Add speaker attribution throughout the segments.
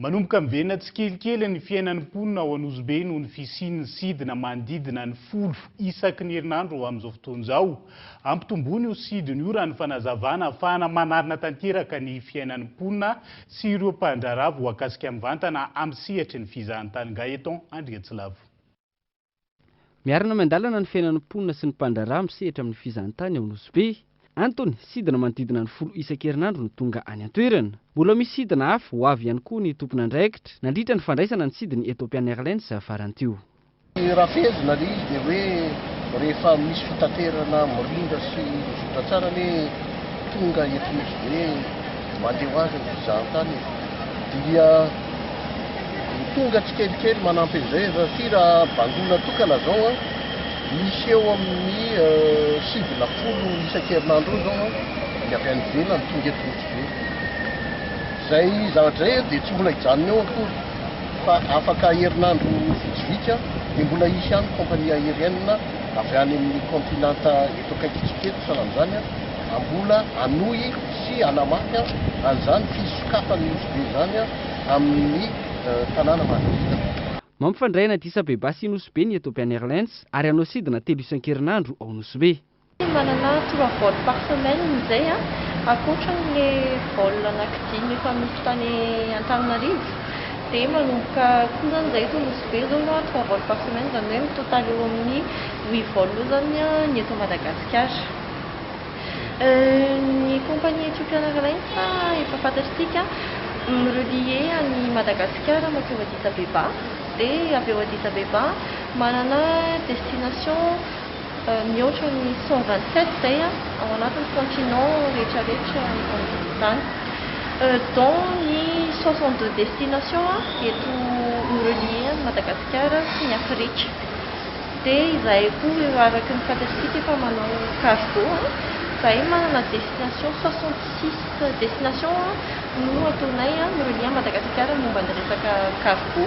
Speaker 1: Manomboka miverina tsikelikely ny fiainan'ny mponina ao Anosibe noho ny fisian'ny sidina manodidina ny folo isaky ny herinandro amin'izao fotoana izao. Ampitomboina io sidina io raha ny fanazavana afahana manarina tanteraka ny fiainan'ny mponina sy ireo mpandraharaha voakasika mivantana amin'ny sehatry ny fizahan-tany Gaëtan Andriatsilavo.
Speaker 2: Miarina miandalana ny fiainan'ny mponina sy ny mpandraharaha misehatra amin'ny fizahantany ao Nosy Be. Antony, sidina manodidina ny folo isan-kerinandro no tonga any an-toerana. Mbola misy sidina hafa ho avy ihany koa ny tompon'andraikitra, nandritra ny fandraisana ny sidiny Ethiopian Airlines faran'ny teo. Ny rafezina
Speaker 3: ary dia hoe rehefa misy fitaterana mirindra sy mizotra tsara anie tonga eto Nosy Be, mandeha ho azy ny fizahantany e. Dia. Ho tonga tsikelikely manampy an'izay aza satria raha bangoina tokana izao an, misy eo amin'ny sivy na folo isan-kerinandro eo izao an, ny avy any ivelany tonga eto Rotsibe. Izay zavatra izay dia tsy mbola hijanona eo akory fa afaka herinandro vitsivitsy an, dia mbola hisy ihany compagnie aérienne avy any amin'ny continent eto akaikintsika eto sahala amin'izany an, mbola hanohy sy hanamafy an'izany fisokafan'ny nosy-be izany amin'ny tanàna manodidina. Mampifandray any
Speaker 2: Addis Abeba sy Nosy-Be ny Ethiopian Airlines ary hanao sidina telo isan-kerinandro ao Nosy-Be. Manana trois
Speaker 4: vols par semaine izay ankoatra amin'ilay vol anaky dimy efa misy tany Antananarivo dia manomboka koa izany izay eto Nosy-Be izao na trois vols par semaine izany hoe mi-total eo amin'ny huit vols eo izany ny eto Madagasikara. Ny compagnie Ethiopiana Airlines efa fantatr'tsika mi-relier an'i Madagasikara mankeo Addis Abeba dia avy eo Addis Abeba manana destination mihoatra ny cent vingt sept izay ao anatin'ny continent rehetra rehetra eto ambony tany dont ny soixante deux destination eto mi-relier an'i Madagasikara sy ny Afrika. Dia izahay koa eo araky ny fantatsika efa manao cargo a, izahay manana destination soixante six destination no ataonay a mi-relier an'i Madagasikara momba ny resaka cargo.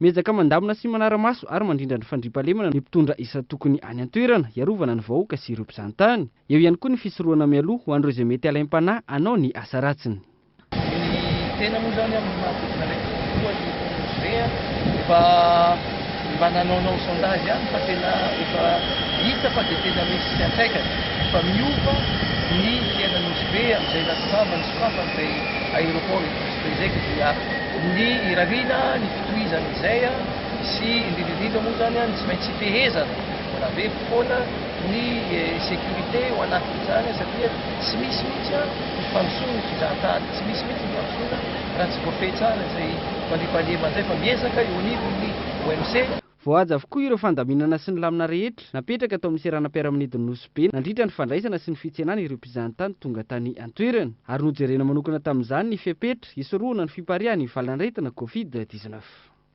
Speaker 4: Miezaka
Speaker 2: mandamina sy manara-maso ary mandrindra ny fandriampahalemana ny mpitondra isan-tokony any an-toerana hiarovana ny vahoaka sy ireo mpizahantany. Eo ihany koa ny fisorohana mialoha ho an'ireo izay mety halaim-panahy hanao ny asa ratsiny. Ny
Speaker 5: tena moa izany amin'ny maha vokona ilay tontolo aloha io ONG a, efa mba nanaonao sondage ihany fa tena efa hita fa dia tena misy fiantraikany, fa miova ny fiainan'i Nosy Be amin'izay nasongavan'ny sokafana ilay aéroport eto Nosy Be izay, ka dia ny irariana, ny fitohizana izay sy indrindra indrindra moa izany a ny tsy maintsy fehezana, mbola be foana. ny sécurité ao anatin'izany satria tsy misy mihitsy an ny fandrosoana ny fizahantany, tsy misy mihitsy ny fandrosoana raha tsy voafehy tsara izay mandriampandriana an'izay fa miezaka eo anivon'ny OMC. Voahaja avokoa
Speaker 2: ireo fandaminana sy ny lamina rehetra napetraka tao amin'ny seranam-piaramanidin'i Nosy Be nandritra ny fandraisana sy ny fitsenana ireo mpizahantany tonga tany an-toerana ary nojerena manokana tamin'izany ny fepetra hisorohana ny fipariahan'ny valan'aretina Covid dix-neuf.